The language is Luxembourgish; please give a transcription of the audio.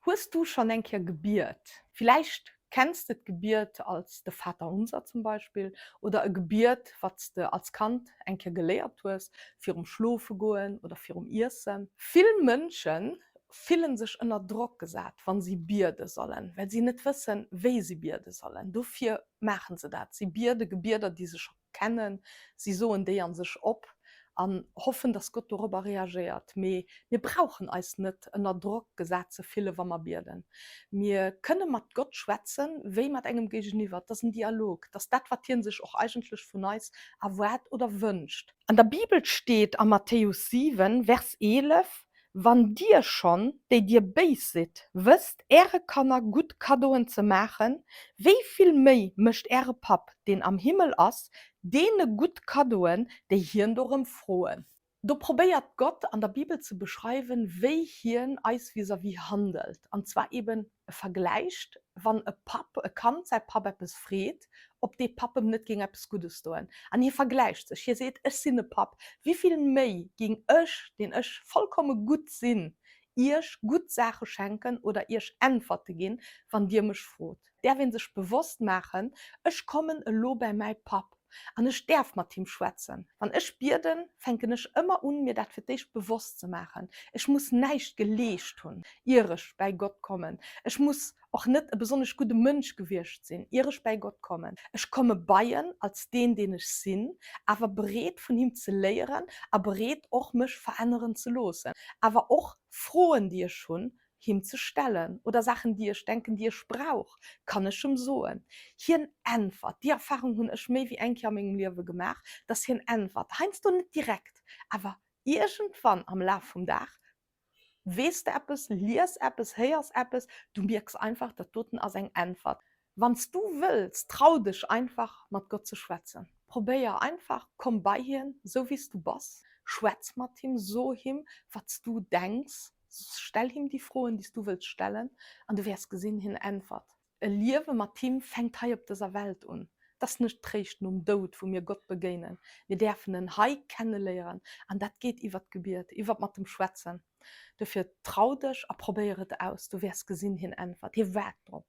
Hues du schonn eng Kéier gebiet? Villäicht kenns de d'Gebiet als de Vater Unser zum Beispill oder e Gebiet, wat s de als Kand eng Kéier geléiert hues virum Schlofegoen oder virum Iessen. Vill Mënsche fille sech ënner Drock gesat, wa si biede sollen, well si net wëssen, wéi si biede sollen. Dofir maache se dat, si biede Gebieder, déi se scho kennen, si soen déi a sech op an hoffen, dass Gott dorobber reagéiert. Mee mir brauchen eis net ënner Drock gesat ze fillen, wa mer bieden. Mir kënne mat Gott schwätzen, wéi mat engem Géigeniwwer. Et ass en Dialog. Et ass dat, wat hien sech och eigentlech vun eis erwaart oder wënscht. An der Bibel steet a Matthäus 7, Vers 11, Wann dir schonn, déi dir béis sidd, wësst äre Kanner gutt Kaddoen ze maachen, wéi vill méi mécht äre Papp, deen am Himmel ass, deene gutt Kaddoen, déi hien dorëm froen? Do probéiert Gott an der Bibel ze beschreiwen, wéi hien eis vis-à-vis handelt, an zwar eben E vergläicht, wann e Papp e Kand säi Papp eppes freet, ob dee Papp em net géing eppes Guddes doen. An hie vergläicht sech, hie seet, Ech sinn e Papp, wivill méi géing ech, deen ech vollkomme gutt sinn, iech gutt Saache schenken oder iech Äntwerte ginn, wann dir mech frot. Däerf ee sech bewosst maachen, Ech kommen elo bäi mäi Papp, An ech däerf mat him schwätzen. Wann ech bieden, fänken ech ëmmer un, mir dat fir d'éischt bewosst ze maachen. Ech muss näischt geleescht hunn, ier ech bäi Gott kommen. Ech muss och net e besonnesch gudde Mënsch gewiescht sinn, ier ech bäi Gott kommen. Ech komme bei en als deen, deen ech sinn, awer bereet, vun him ze léieren a bereet och, mech veränneren ze loossen. Awer och Froen, déi ech hunn, him ze stellen oder Saachen déi ech denken déi ech brauch kann ech em soen. Hien äntwert, déi Erfahrung hunn ech méi wéi eng Kéier a mengem Liewe gemaach, dass hien äntwert, heiansdo net direkt, awer iergendwann am Laf vum Dag weess de eppes, lies eppes, héiers eppes, du mierks einfach, dat doten ass eng Äntwert. Wann s du wëlls, trau dech einfach mat Gott ze schwätzen. Probéier einfach, komm bei hien, esou wéi s du bass. Schwätz mat him, so him, wat s du denks. Stell him déi Froen, déi s du wëlls stellen, an du wäers gesinn, hien äntwert. E Liewe mat him fänkt hei op dëser Welt un. Et ass net réischt nom Doud, wou mir Gott begéinen. Mir däerfen en hei kenneléieren, an dat geet iwwer d'Gebiet, iwwer mat dem Schwätzen. Dofir trau dech a probéier et aus, du wäers gesinn, hien äntwert. Hie waart drop.